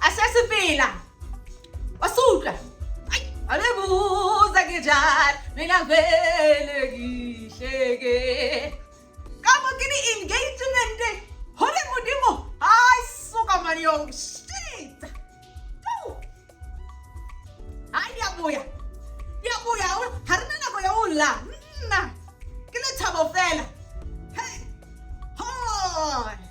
asesifila wasuka alebuza nginjani mina vele ngihleke kabo kini engagement hole mudimo hayi suka mani yo shit hayi yabuya yabuya ha ri na nako ya u la nna ke lethabo fela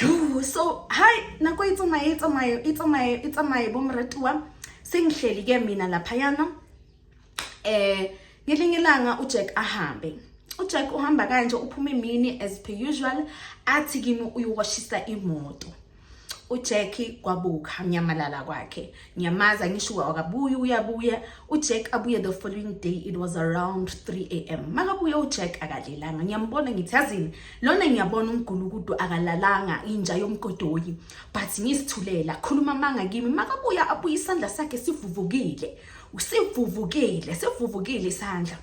Yuu, so hayi nako e tsamaye e tsamaye e tsamaye e tsamaye bo moratuwa se ngihleli ke mina laphayana eh ngelinye ilanga uJack ahambe uJack uhamba kanje uphuma imini as per usual athi kimi uyowashisa imoto uJackie kwabuka nyamalala kwakhe ngiyamazi angisho akabuye uyabuya ujack abuye the following day it was around 3 a m makabuya ujack akalelanga ngiyambona ngithi azini lona ngiyabona umgulukudu akalalanga inja yomgodoyi but ngisithulela khuluma amanga kimi makabuya abuye isandla sakhe sivuvukile usivuvukile sivuvukile isandla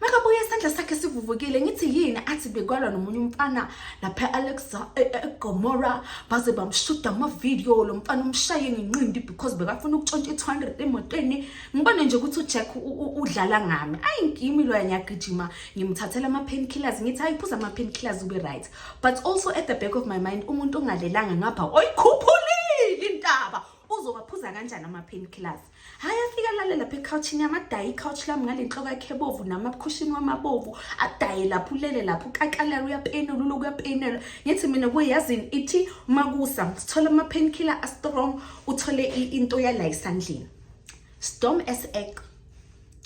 makabuya isandla sakhe sivuvukile ngithi yini athi bekwalwa nomunye umfana lapha e-alexa e, e, egomora baze bamshuda amavidiyo lo mfana umshaye ngenqindi because bekafuna ukutshontsha i-two hundred emotweni ngibone nje ukuthi ujack udlala ngami ayi ngimi loya ngiyagijima ngimthathela ama-pain killers ngithi ayi phuza ama-pain killers ube right but also at the back of my mind umuntu ongalelanga ngapha oyikhuphulile intaba uzowaphuza kanjani ama-pain killers hhayi afike alale lapha ekhawuthini yami adaye ikhawuthi lami ngale nhloko yakhe ebovu nami abukhushini wami abovu adaye lapho ulele lapho ukakalala uyapenela uloku uyapenela ngithi mina kuye yazini ithi makusa sithole ama-painkiller astrong uthole into yala esandleni storm as ex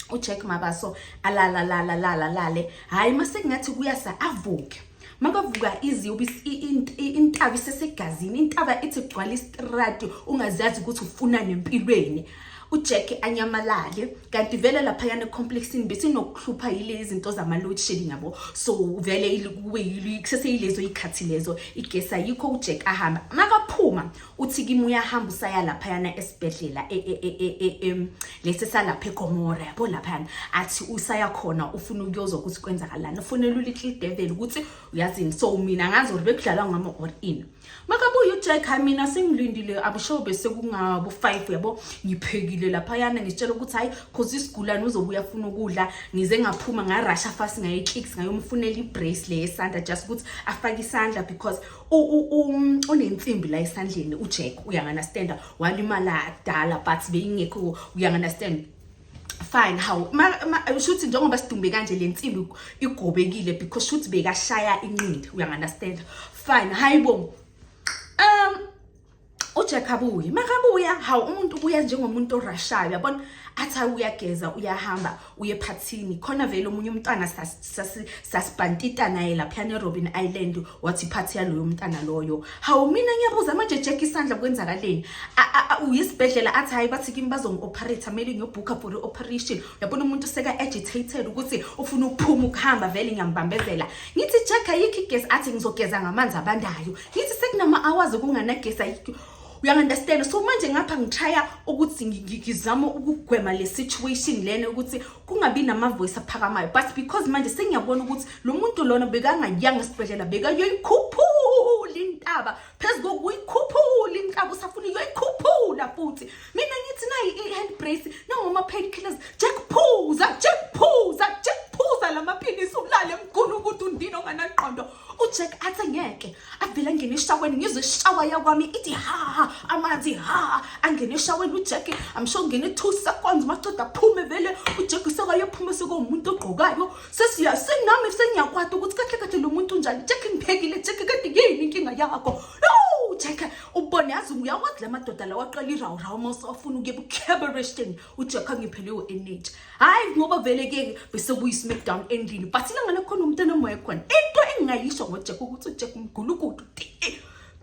uJack Mabaso alala lala lala lale hayi masekungathi kuyasa avuke makavuka iziyobe intaba isesegazini intaba ithi gcwala istrati ungazazi ukuthi ufuna nempilweni uJack anyamalale kanti vele lapha yana complexini bese nokuhlupha yile izinto zama load shedding yabo so vele kube yilezo ikhathi lezo igesa yikho uJack ahamba makaphuma uthi kimi uyahamba usaya laphayana esibhedlela e, e, e, lesi salapha egomora yabo laphayana athi usaya khona ufuna ukuyozwa ukuthi kwenzakalani ufunela ulittle devil ukuthi uyazini so mina ngazi or bekudlalwa ngama or in makabuye ujack hayi mina sengilindile abusho bese kungabo five yabo ngiphekile laphayana ngitshela ukuthi hayi cause isigulane uzobuya funa ukudla ngize ngaphuma ngarasha fast ngayeclicks ngayomfunela ibrace le yesandla just ukuthi afake isandla because Um, unensimbi la esandleni ujack uyanganastanda walimala kudala but beyingekho uyanganastanda fine how shuthi njengoba sidumbe kanje le nsimbi igobekile because shuthi bekashaya inqindi uyanganastanda fine hayi bo um uJack abuye makabuya hawu umuntu ubuya njengomuntu orashayo uyabona athi uyageza uyahamba uye phathini khona vele omunye umntwana sasibhantita naye laphiyana erobin island wathi iphathi yaloyo mntana loyo hawu mina ngiyabuza manje jack isandla kwenzakaleni uyisibhedlela athi hhayi bathi kimi bazongi-operator kumele ngiyobhukha for i-operation uyabona umuntu seka-agitated ukuthi ufuna ukuphuma ukuhamba vele ngiyambambezela ngithi jack ayikho igezi athi ngizogeza ngamanzi abandayo ngithi sekunama hours okunganagesi ayikho uyangunderstand so manje ngapha ngitshaya ukuthi ngizama ukugwema le situation lena ukuthi kungabi namavoice aphakamayo but because manje sengiyabona ukuthi lo muntu lona bekangayanga esibhedlela bekayoyikhuphula intaba phezu kokuyikhuphula intaba usafuna uyoyikhuphula futhi mina ngithi nayi i-hand brace nangoma pain killers jack phuza jack phuza jack phuza la maphilisi ulale mgulu ukuthi undini onganaqondo ujack athi ngeke avele angene eshaweni ngizwe ishawa yakwami ithi ha amanzi ha angene eshaweni ujack amsho ngene two seconds maceda aphume vele ujack sekayophuma sekomuntu ogqokayo sesiya senami sengiyakwata ukuthi kahle kahle lo muntu unjani jack ngiphekile jack kade yini inkinga yakho jack ubone yazi uyawakudla amadoda lawa aqala irawurawu uma usafuna ukuye ebucabariston uthi yakho angiphelelwe energy hayi ngoba vele ke bese kuyi smackdown endlini but ilanga lakhona umntana moya khona into engingayisho ngojack ukuthi ujack mgulukudu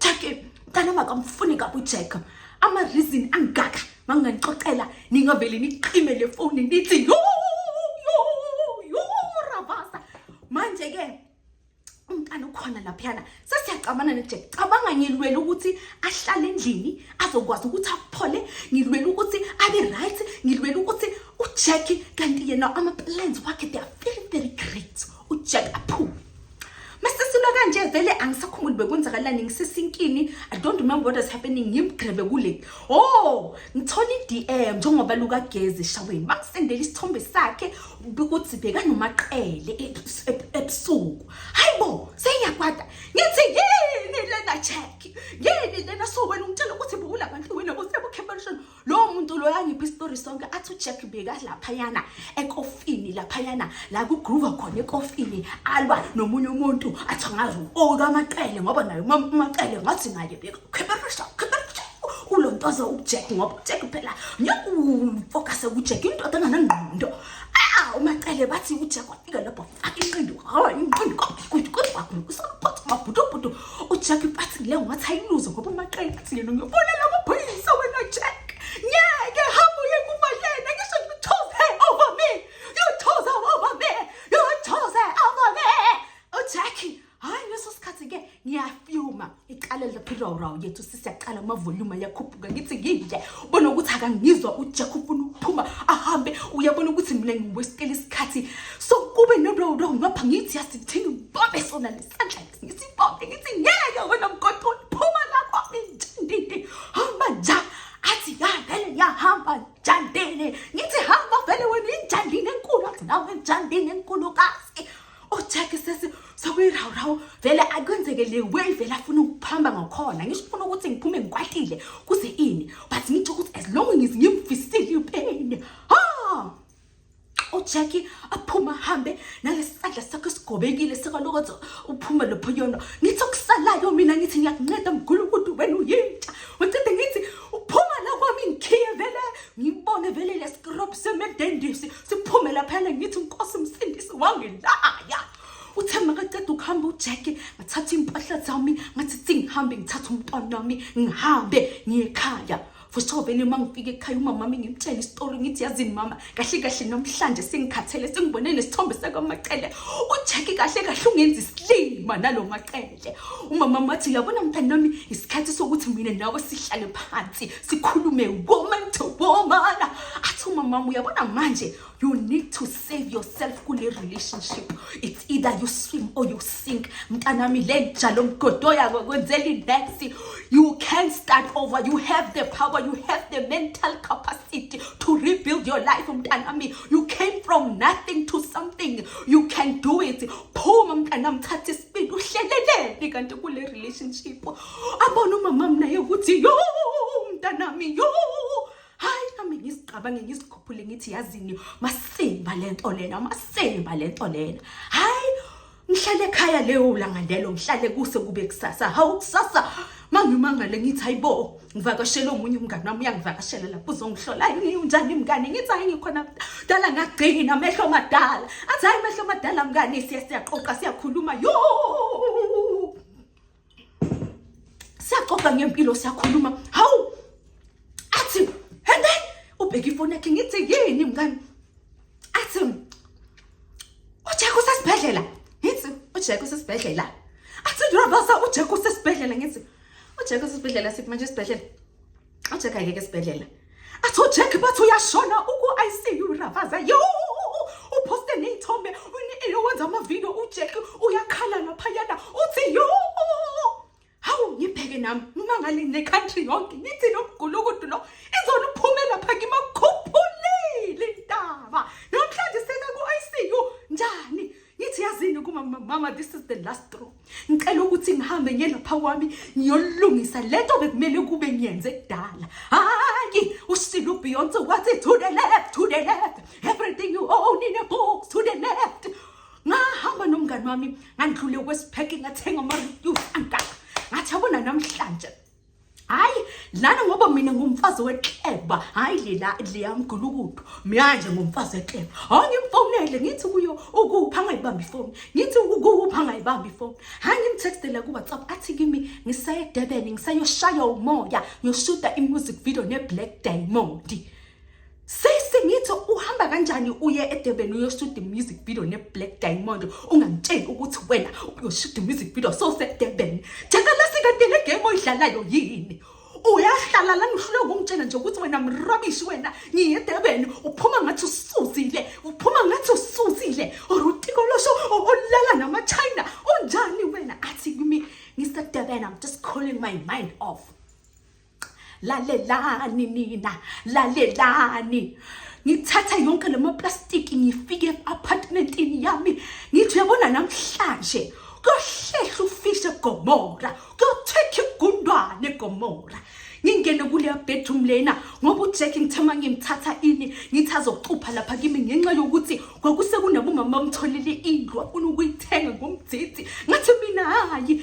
jack mntana makamfuni kabi ujack ama reason angaka manginganixoxela ningavele niqime le foni nithi yo yo yo ravasa manje ke umntana ukhona laphiyana sesiyacabana nejack cabanga ngilwele ukuthi ahlale endlini azokwazi ukuthi aphole ngilwele ukuthi abe right ngilwele ukuthi ujack kanti yena ama-plans wakhe they are very very great ujack aphume masesilo kanje vele angisakhumbuli bekwenzakalani ngisesinkini i don't remember what is happening ngimgrebe kule o oh, ngithola i-d m njengoba lukagezi eshaweni bangisendela isithombe sakhe ukuthi bheka nomaqele e-, e-, ebusuku hayi bo seyakwada ngithi yini lena check yini lena so wena ungitshela ukuthi bukula bantu wena kusebukhemperishon lowo muntu loyo angiphi isitori sonke athi ujack bheka laphayana ekofini laphayana la kugroova khona ekofini alwa nomunye umuntu athi angazi ukamaqele ngoba naye umaqele ngathi ngaye bheka khemperishon ulontoze ujack ngoba ujack phela ngeke ufokase kujack indoda enganangqondo ah umacele bathi ujack wafika lapho faka inqindi hawa inqindi kwakuthi kwakusaphotha mabhutubhutu ujack ipathi le ngathi ayiluze ngoba umacele athi yena ngiyobona la maphoyisa wena jack ngeke hamba uye kuba yena ngisho ngithoze over me you toze over me you toze over me ujack hayi leso sikhathi ke ngiyafyuma iqale laphirawurawu yethu sisi yaqala amavoluma yakhuphuka ngithi ngidle ubona ukuthi akangizwa ujack ufuna ukuphuma ahambe uyabona ukuthi mina ngiwesitela isikhathi so kube norawurawu ngapha ngithi yasithini ngibambe sona lesandla ngisibambe ngithi ngeke wena mgoqoni phuma lapho intindindi hamba nja athi ya vele yahamba njandini ngithi hamba vele wena injandini enkulu athi nawe njandini enkulu kazi ojaki sesi sokuyirawu-rawu vele akwenzeke le way vele afuna ukuphamba ngakhona ngisho ufuna ukuthi ngiphume ngikwatile kuze ini but ngitsho ukuthi as long ngize ngimfisile ipain ha ojaki aphuma hambe nalesandla sakho esigobekile sekwalokothi uphume lopho yona ngithi okusalayo mina ngithi ngiyakunceda mgulu ukuthi wena uyintsha wecide ngithi uphuma la kwami ngikhiye vele ngibone vele lesikrop semedendisi siphume laphana ngithi unkosi msindisi wangilaya uthe makaceda ukuhamba ujeke ngathatha iy'mpahla zami ngathi thi ngihambe ngithathe umntwana wami ngihambe ngiye ekhaya fosho vele uma ngifika ekhaya umamami ngimtshela isitori ngithi yazini mama kahle kahle namhlanje sengikhathele sengibone nesithombe sakwamacele ujeki kahle kahle ungenza isilima nalo macele umama wathi uyabona mntana wami isikhathi sokuthi mina nawe sihlale phansi sikhulume woman to woman athi umama wami uyabona manje you need to save yourself kule relationship it's either you swim or you sink mntana wami le njalo mgodo yako kwenzela inext you can start over you have the power you have the mental capacity to rebuild your life mntana wami you came from nothing to something you can do it phuma mntanami thatha isibindi uhleleleni kanti kule relationship abona umama mnaye ukuthi yo mntanami yo hayi nami ngisicabange ngisikhuphule ngithi yazini masimba le nto lena masimba le nto lena hayi ngihlale ekhaya leyo langa lelo ngihlale kuse kube kusasa hawu kusasa mangimangale ngithi hayibo ngivakashele omunye umngane wami uyangivakashela lapho uzongihlola hayi ngiwunjani mngane ngithi hayi ngikhona dala ngagcina amehlo madala athi hayi amehlo madala mngane siya siyaqoqa siyakhuluma yo siyaxoxa ngempilo siyakhuluma hawu athi and then ubheka ifoni yakhe ngithi yini mngane athi uJeku sesibhedlela ngithi uJeku sesibhedlela athi ngiyabaza uJeku sesibhedlela ngithi uJeku sesibhedlela sithi manje sibhedlela uJeku ayeke sibhedlela athi uJeku bathi uyashona uku ICU rabaza yo uposte nezithombe uneyo wenza ama video uJeku uyakhala laphayana uthi yo hawu ngibheke nami noma ngale necountry yonke ngithi lo mgulukudu lo izona uphume lapha kimakhuphulile intaba namhlanje seka ku-icu njani ngithi yazini kuma mama this is the last straw ngicela ukuthi ngihambe ngiye lapha kwami ngiyolungisa le nto bekumele kube ngiyenze kudala hhayi usile ubeyonce wathi to the left to the left everything you own in a box to the left ngahamba nomngane wami ngandlule kwesipheke ngathenga amaryu angaka ngathi abona namhlanje hayi lana ngoba mina ngumfazi wekleba hayi lela liyamgulukudu manje ngumfazi wekleba hawu ngimfonele ngithi kuyo ukupha angayibambi ifoni ngithi ukupha angayibambi ifoni hayi ngimtextele kuwhatsapp athi kimi ngiseyedebeni ngiseyoshaya umoya ngiyoshuta imusic video neblack diamond Sisi ngithi uhamba kanjani uye eDurban uyoshuta music video neBlack Diamond ungangitsheli ukuthi wena uyoshuta music video sowuseDurban. Jaka lasi kanti le game oyidlalayo yini? Uyahlala lana uhlulwe ukungitshela nje ukuthi wena mrabishi wena ngiye eDurban uphuma ngathi usuzile uphuma ngathi usuzile orutiko losho olala nama China unjani wena athi kimi ngiseDurban I'm just calling my mind off. lalelani nina lalelani ngithatha yonke le maplastiki ngifike apartmentini yami ngithi uyabona namhlanje kuyohlehla ufishe gomora kuyothekha igundwane gomora ngingene kuleya bedroom lena ngoba ujack ngithe uma ngimthatha ini ngithi azocupha lapha kimi ngenxa yokuthi kwakusekunabomama bamtholile indlu afuna ukuyithenga ngomdzidzi ngathi mina hhayi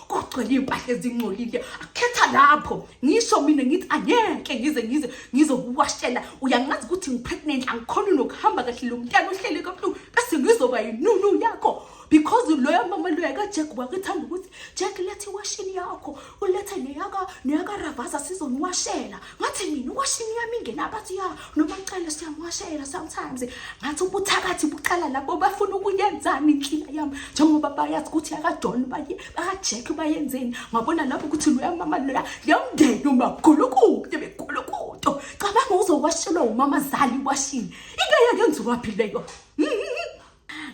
kugcwele iy'mpahla ezingcolile akhetha lapho ngisho mina ngithi angeke ngize ngize ngizokuwashela uyangazi ukuthi ngi-pregnant angikhoni nokuhamba kahle lo mntana uhlele kabuhlungu bese ngizoba yinunu yakho because loya mama loya kajek wakuthanda ukuthi jek letha iwashini yakho ulethe neyaka neyakaravasa sizoniwashela ngathi mina iwashini yami ingena abathi ya noma cela siyamuwashela sometimes ngathi ubuthakathi buqala lapho bafuna ukuyenzani inhlila yami njengoba bayazi ukuthi akajoni baye bakajack bayenzeni ngabona lapho ukuthi loya mama loya yamndeni umagulu kude begulu kude cabanga uzowashelwa umama zali iwashini into yakenziwaphi leyo mm-hmm.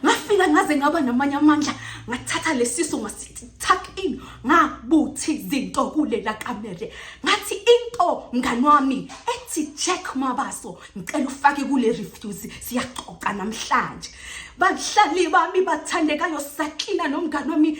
ngafika ngaze ngaba namanye amandla ngathatha lesiso ngasithi tuck in ngabuthi izinto kulela kamere ngathi into mngani wami ethi Jack Mabaso ngicela ufake kule refuse siyaxoxa namhlanje bahlali bami bathandekayo saklina nomngani wami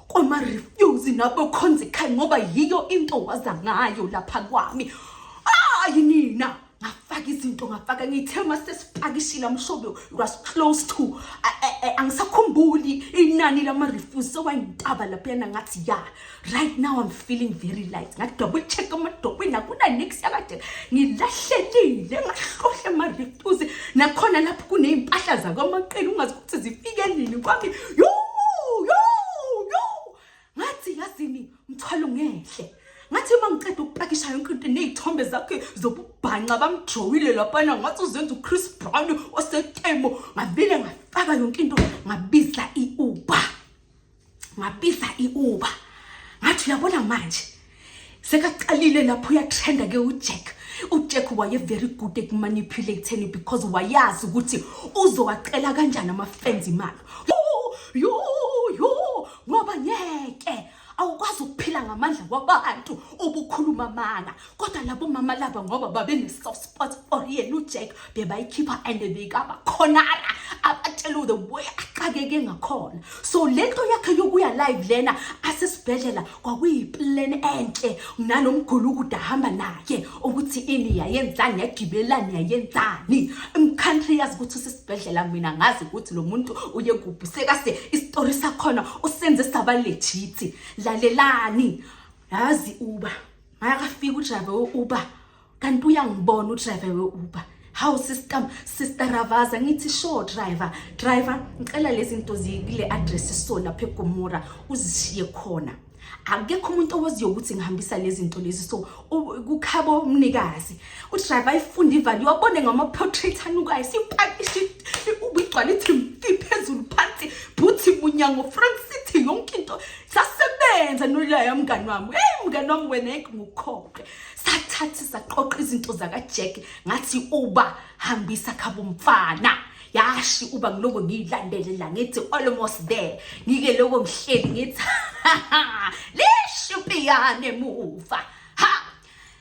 kwama-refuse nabokhonzikhaya ngoba yiyo into waza ngayo lapha kwami hayi nina ngafaka izinto ngafaka ngithe uma sesipakishile amshobe was close to angisakhumbuli inani lama-refuse sewayintaba laphayana ngathi ya right now i'm feeling very light ngathi double check amadokweni akunanix yakade ngilahlelile ngahlohle ama-refuse nakhona lapho kuney'mpahla zakwamaqela ungazi ukuthi zifike nini kwami yo yo yo ngathi yazini mthwalo ngehle ngathi uma ngiceda ukupakisha yonke into nezithombe zakhe zobubhanxa bamjowile lapana ngathi uzenza uchris brown osetemo ngavile ngafaka yonke into ngabiza i-uber ngapisa iuba ngathi uyabona manje sekaqalile lapho uyatrenda ke ujack ujack waye very good ekumanipulatheni because wayazi ukuthi uzowacela kanjani ama-fans imali yo yo ngoba ngeke awukwazi ukuphila ngamandla kwabantu ubukhuluma amanga kodwa labo mama laba ngoba babene-soft spot or yena ujack bebayikhipha and bekabakhonara abatshela the way axakeke ngakhona so le nto yakhe yokuya live lena asesibhedlela kwakuyiplan enhle nalo mguli ukude ahamba naye ukuthi ini yayenzani yagibelani yayenzani umcountry yazi ukuthi usesibhedlela mina ngazi ukuthi lo muntu uye kuphi sekase isitori sakhona usenze saba lejithi lalelani yazi uba akafika udriver we-uber kanti uyangibona udriver we-uber hawu sister sister ravaza ngithi sure driver driver ngicela lezi zinto zikule address so lapha egomora uzishiye khona akekho umuntu owaziyo ukuthi ngihambisa lezi zinto lezi so kukhabo umnikazi udriver ayifunde ivali iwabone ngama-portrait anukayo sipakishe ubigcwala ithimfi phezulu phansi bhuthi munyango front city yonke into sasebenza nolaya mngani wami eyi mngani wami wena yeke ngukhoke sathathi saqoqa izinto zakajack ngathi uba hambisa khabo mfana yashi uba ngiloko ngiyilandele la ngithi almost there ngike loko ngihleli ngithi lishupiyane muva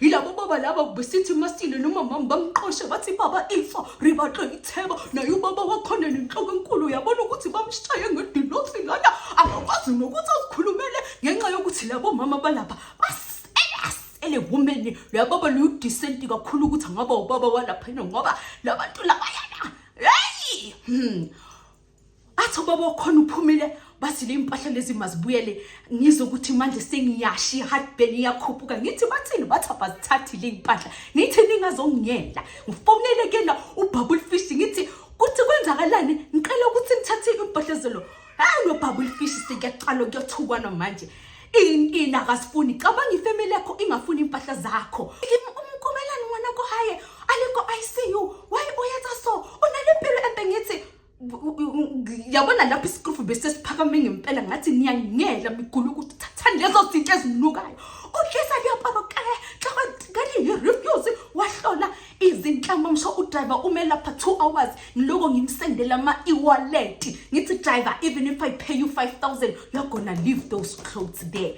yilabo baba laba besithi masile nomamami bamqoshe bathi baba ifa ribaxe itheba naye ubaba wakhona nenhloko enkulu uyabona ukuthi bamshaye ngedilotri lana akakwazi nokuthi azikhulumele ngenxa yokuthi labo mama balapha basele wumeni luyababa luyudisenti kakhulu ukuthi angaba ubaba walaphena ngoba labantu labayana heyi hmm. athi ubaba okhona uphumile bathi le mpahla lezi mazibuyele ngizwe ukuthi manje sengiyashi heartburn iyakhuphuka ngithi bathini bathi abazithathi le mpahla ngithi ningazongiyela ngifonele kena ubabul fish ngithi kuthi kwenzakalani ngicela ukuthi ngithathe impahla zelo hayi lo babul fish sekuyaxalo kuyothukwana manje inina akasifuni cabanga ifamily yakho ingafuni impahla zakho umkomelani ngwana ko haye aliko ICU why uyatha so unalempilo empe ngithi yabona lapho isikrufu besesiphakame ngempela ngathi niyangela migula ukuthi thathani lezo zinto ezinukayo uhlisa liyaparo kale xakali yi-refuse wahlola izinhlamba msho udriver ume lapha two hours ngiloko ngimsendela ama-ewaleti ngithi driver even if i pay you 5000 you're gonna leave those clothes there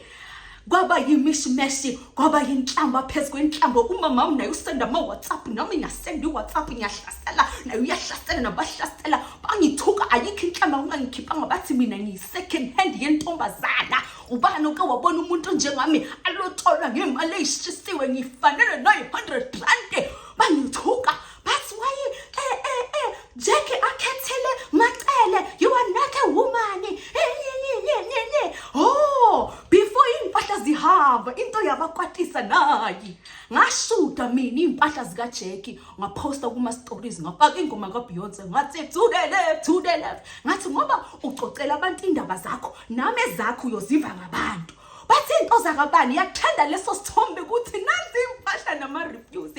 kwaba yimishimeshie kwaba yinhlamba phezu kwenhlamba umama naye usenda ama-whatsapp nami ngasenda i-whatsapp ngiyahlasela naye uyahlasela nabahlasela bangithuka ayikho inhlamba ungangikhiphanga bathi mina ngiyi-second hand yentombazana ubani oke wabona umuntu onjengami alotsholwa ngemali eyishisiwe ngifanele nayi-hundred rand bangithuka That's why eh eh eh Jackie akhethele macele you are not a woman. Eh, oh, before impahla zihamba into yabakwatisa nayi. Ngashuta mina impahla zika Jackie ngaposta kuma stories ngafaka ingoma ka Beyonce ngathi to the left to the left. Ngathi ngoba ucocela abantu indaba zakho nami ezakho uyoziva ngabantu. bathi into zakabani yakuthanda leso sithombe ukuthi nanzi impahla nama-reviews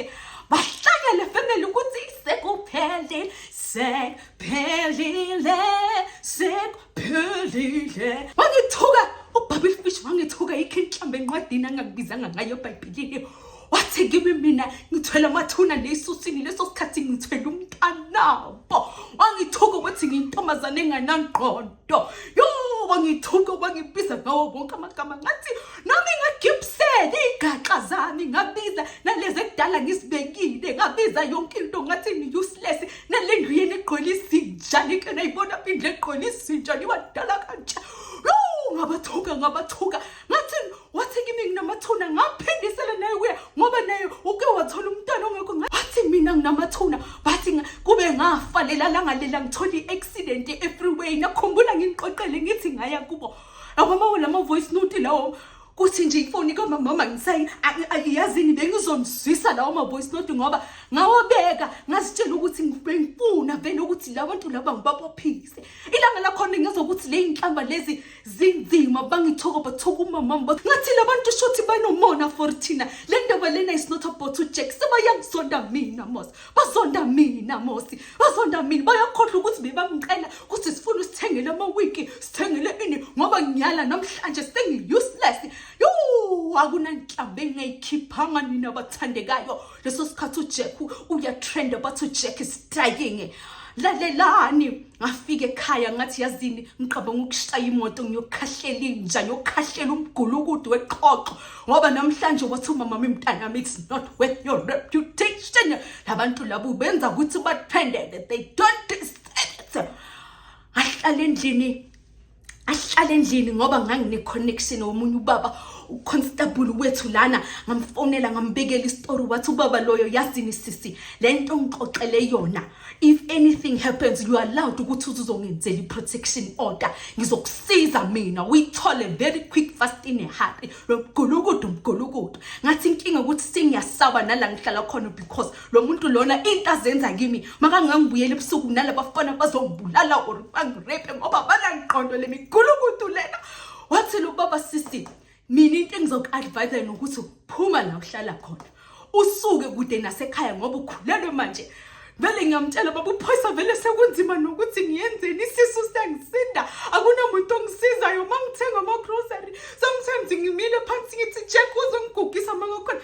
bahlangele family ukuthi sekuphelile sekuphelile sekuphelile wangithuka ubabile fish wangithuka yikho inhlamba encwadini angakubizanga ngayo ebhayibhilini wathi kimi mina ngithwele amathuna neyisusini leso sikhathi ngithwele umntanabo wangithuka ukuthi ngiyintombazane enganangqondo yo wangithuka wangibiza ngawo wonke amagama ngathi nami ngagibisele iy'gaxa zami ngabiza nalezi ekudala ngizibekile ngabiza yonke into ngathi ni-useless nale ndlu yeni egqwele izinja nike nayibona phindle egqwele izinja niwadala kanjani ngabathuka ngabathuka ngathi wathi kimi nginamathuna ngaphindisela naye kuye ngoba naye uke wathola umntwana ongekho ngathi mina nginamathuna bathi kube ngafa lela langa lela ngithola i-accident e-freeway nakhumbula ngingiqoqele ngithi ngaya kubo awamawo lama voice note lawo kuthi nje ifoni kamamama ngisayi ayiyazini bengizomzwisa lawo ma-voice note ngoba ngawabeka ngazitshela ukuthi bengifuna vele ukuthi la bantu laba ngibabophise ilanga lakhona ngezokuthi le yinhlamba lezi zinzima bangithoka bathoka umamam bathi ngathi labantu shothi banomona for thina le ndaba lena is not about ujack sebayangizonda mina mos bazonda mina mosi bazonda mina bayakhohlwa ukuthi bebamcela ukuthi sifuna usithengele amawiki sithengele ini ngoba ngiyala namhlanje sengi-useless yo akunanhlamba engingayikhiphanga nina bathandekayo leso sikhathi ujack uyatrenda bathi ujack is dying lalelani ngafika ekhaya ngathi yazini ngiqabanga ukushaya imoto ngiyokhahlela inja ngiyokhahlela umgulukudu weqhoqo ngoba namhlanje wathi umama mi mntanami it's not worth your reputation labantu labo benza ukuthi batrendeke they don't deserve it ahlala endlini ahlale endlini ngoba ngangine-connection womunye ubaba uconstable wethu lana ngamfonela ngambekela isitori wathi ubaba loyo yazini sisi le nto ngixoxele yona if anything happens you are allowed ukuthi uzongenzela i-protection order ngizokusiza mina uyithole very quick fast in a hurry lo mgulukudu mgulukudu ngathi inkinga ukuthi sengiyasaba nala ngihlala khona because lo muntu lona into azenza kimi makangangibuyela ebusuku nalaba bafana bazongibulala or bangirepe ngoba banangiqondo le migulukudu lena wathi lo baba sisi mina into engizoku-advise yona ukuthi phuma la uhlala khona usuke kude nasekhaya ngoba ukhulelwe manje vele ngiyamtshela baba uphoyisa vele sekunzima nokuthi ngiyenzeni isisu siyangisinda akunamuntu ongisizayo uma ngithenga ama-grocery sometimes ngimile phansi ngithi jack uzongigugisa mangakhona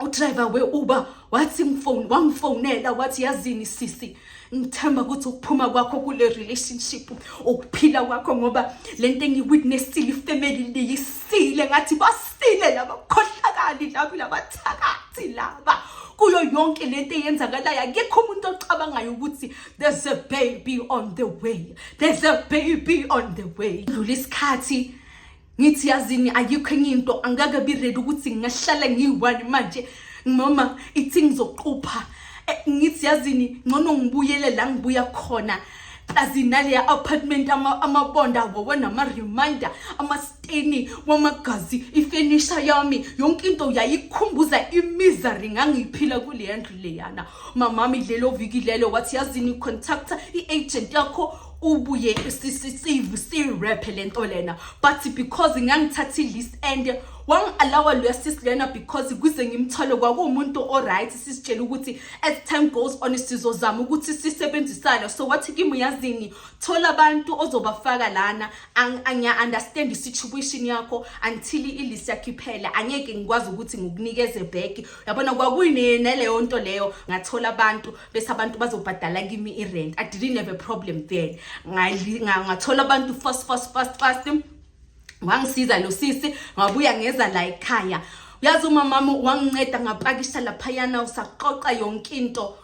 udriver we-uber wathi ngifone wangifonela wathi yazini sisi ngithemba ukuthi ukuphuma kwakho kule relationship ukuphila kwakho ngoba le nto engiwitnessile ifamily liyisile ngathi basile laba khohlakali laba labathakathi laba kuyo yonke le nto eyenzakalayo akekho umuntu ocabangayo ukuthi there's a baby on the way there's a baby on the way dlula isikhathi ngithi yazini ayikho enye into angeke biredi ukuthi ngingahlala ngiyi-one manje mama ithi ngizoqupha eh, ngithi yazini ngcono ngibuyele la ngibuya khona azinaleya apartment amabonda ama wowo nama-reminder amasteni wamagazi ifenisha yami yonke into yayikhumbuza imizari ngangiyiphila kuleya ndlu leyana mamami lelo viki lelo wathi yazini contacta i-agent yakho ubuye sisivu si-rap le nto lena but because ngangithatha i-list and wangi-alawa loya sis lena because kuze ngimthole kwakuwumuntu o-right sisitshele ukuthi as time goes on sizozama ukuthi sisebenzisane so wathi kimi yazini thola abantu ozobafaka lana angiya-understand i-situation yakho until i-list yakho iphele angeke ngikwazi ukuthi ngikunikeze back yabona kwakuyineleyo nto leyo ngathola abantu bese abantu bazobhadala kimi i-rent i didn't have a problem then ngathola abantu fast fast fast fast wangisiza lo sisi ngabuya ngeza la ekhaya uyazi umamami wanginceda ngapakisha laphayana usaqoqa yonke into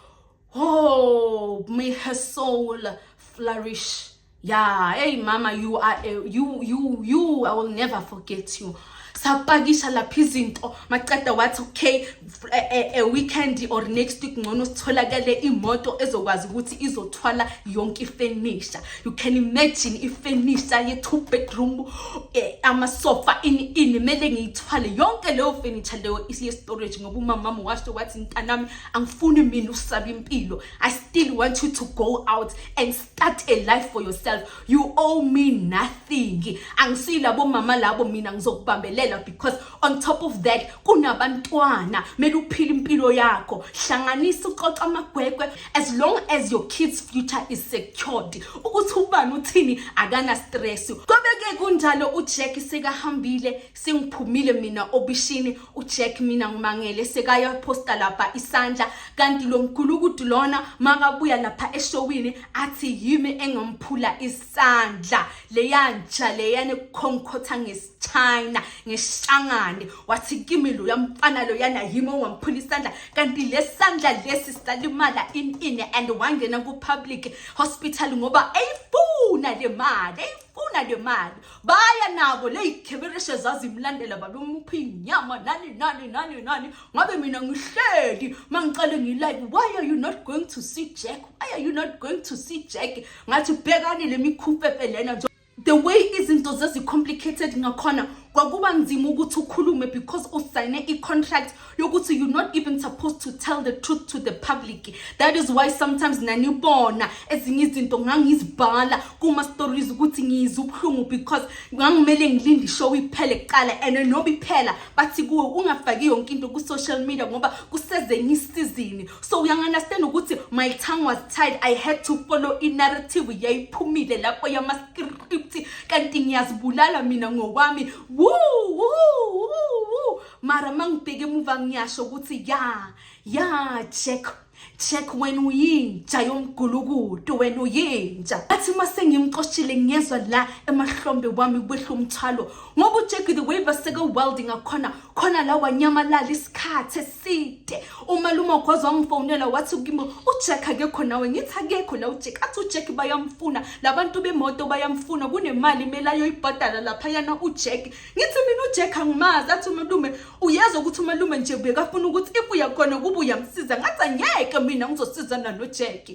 oh may her soul flourish ya hey mama you are a, you you you i will never forget you sapakisha lapha izinto maceda wathi okay a, eh, a, eh, a weekend or next week ngcono sitholakele imoto ezokwazi ukuthi izothwala yonke ifenisha you can imagine ifenisha ye two bedroom eh, amasofa ini ini mele ngiyithwale yonke leyo furniture leyo isiye storage ngoba umama mama washo wathi ntanami angifuni mina usaba impilo i still want you to go out and start a life for yourself you owe me nothing angisila bomama labo mina ngizokubambelela because on top of that kunabantwana mele uphile impilo yakho hlanganisa uxoxa amagwegwe as long as your kids future is secured ukuthi ubani uthini akana stress kobeke kunjalo uJack sekahambile sengiphumile mina obishini uJack mina ngimangele sekaya posta lapha isandla kanti lo mgulukudu lona makabuya lapha eshowini athi yimi engamphula isandla leyantsha leyane kukhonkhotha ngesichina ngeshangane wathi kimi lo yamfana lo yana yimi ongamphula isandla kanti lesandla lesi salimala in in and wangena ku public hospital ngoba eyifuna le mali funa le mali baya nabo ley'khebereshe zazimlandela babe umuphi inyama nani nani nani nani ngabe mina ngihleli uma ngicale ngilive why are you not going to see jack why are you not going to see jack ngathi bhekani le mikhufefe lena nje the way izinto zezi-complicated ngakhona kwakuba nzima ukuthi ukhulume because usayine i-contract yokuthi you're not even supposed to tell the truth to the public that is why sometimes nanibona ezinye izinto ngangizibhala kuma-stories ukuthi ngiyizwa ubuhlungu because ngangimele ngilinde ishow iphele kuqala and noba iphela bathi kuwe ungafaki yonke into ku-social media ngoba kusezenye isizini so uyangunderstand ukuthi my tongue was tied i had to follow i-narrative yayiphumile lapho yama-script kanti ngiyazibulala mina ngokwami woo woo woo mara mangibheke emuva ngiyasho ukuthi ya ya check check wena uyinja yomgulukudu wena uyinja athi uma sengimxoshile ngiyezwa la emahlombe wami kwehla umthwalo ngoba ujack the way baseke welding akhona khona la wanyamalala isikhathi eside umalume ogwazi wangifonela wathi kimi ujack akekho nawe ngithi akekho la ujack athi ujack bayamfuna labantu bemoto bayamfuna kunemali imele ayoyibhadala laphayana ujack ngithi mina ujack angimazi athi umalume uyezwa ukuthi umalume nje bekafuna ukuthi if uyakhona ukuba uyamsiza ngathi angeke mina ngizosizana nojack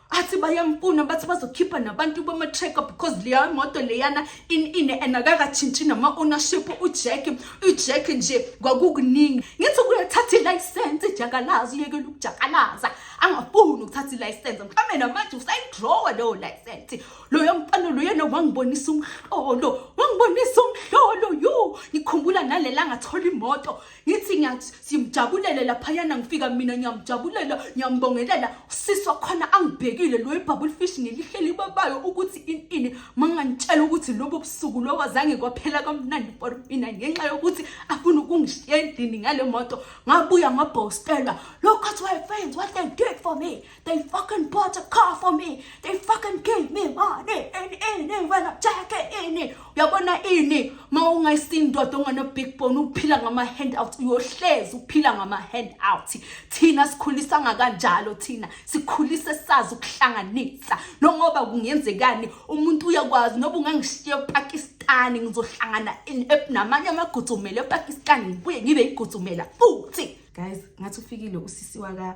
athi bayamfuna bathi bazokhipha nabantu bama-tracker because leya moto leyana inine and akakatshintshi nama-ownership ujack ujack nje kwakukuningi ngithi kuyathatha ilayisensi ijakalaza uyekela ukujakalaza angafuni ukuthatha ilayisensi mhlawumbe namanje usayidrawa leyo layisensi loyo mfana loyena wangibonisa umhlolo wangibonisa umhlolo yu ngikhumbula nalela ngathola imoto ngithi ngiyamjabulele laphayana ngifika mina ngiyamjabulela ngiyambongelela usisi wakhona angibhekile loyo ibhabule fish ngilihleli babayo ukuthi ini ini mangangitshela ukuthi lobo busuku lobo azange kwaphela kamnandi for mina ngenxa yokuthi afuna ukungishiya endlini ngale moto ngabuya ngabhostelwa lokho kuthiwa friends what they did for me They fucking bought a car for me. They fucking gave me money. And ini when I check it ini. Uyabona ini ma ungayisindoda ongana big bone uphila ngama hand out uyohlezi uphila ngama hand out. Thina sikhulisa ngakanjalo thina. Sikhulise sazi ukuhlanganisa. No ngoba kungenzekani umuntu uyakwazi noba ungangishiya ePakistan ngizohlangana namanye amagudzumela ePakistan ngibuye ngibe igudzumela futhi. Guys, ngathi ufikile usisi waka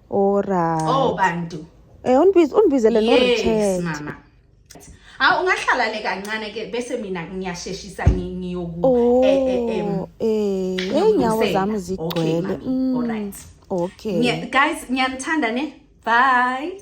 Alright. Oh bantu. Eh unbiz unbizele no return. Yes mama. Ha ungahlala le kancane ke bese mina ngiyasheshisa ngiyoku oh, eh eh em. Eh, eh inyawo zami zigcwele. Mm. Alright. Okay. Guys, ngiyanithanda ne. Bye.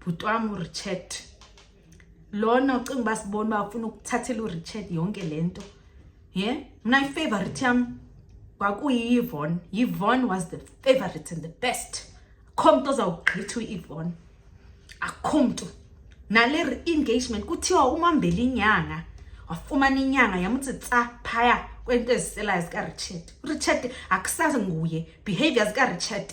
bhuti wami urichard lona ucinga uba sibona uba ufuna ukuthathela urichard yonke le nto ye mna ifavorite yam kwakuyiyivon yivon was the favorite and the best akho mntu ozawugqitha uyivon akho mntu nale re-engagement kuthiwa umambela inyanga wafumana inyanga yamuthi tsa phaya kwento eziselayo zikarichard urichard akusazi nguye behavior zikarichard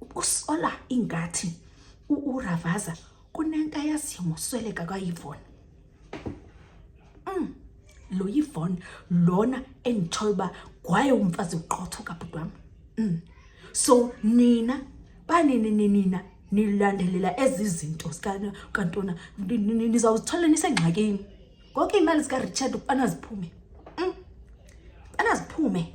ukusola ingathi uRavaza kunento ayaziyo ngosweleka kaYvonne mm lo Yvonne lona engithola uba kwaye umfazi uqotho kabhuti wami mm so nina banini nina nilandelela ezi zinto zikantona nizawuzithola nisengxakini konke iy'mali zika-richard ukubana ziphume mm. ubana ziphume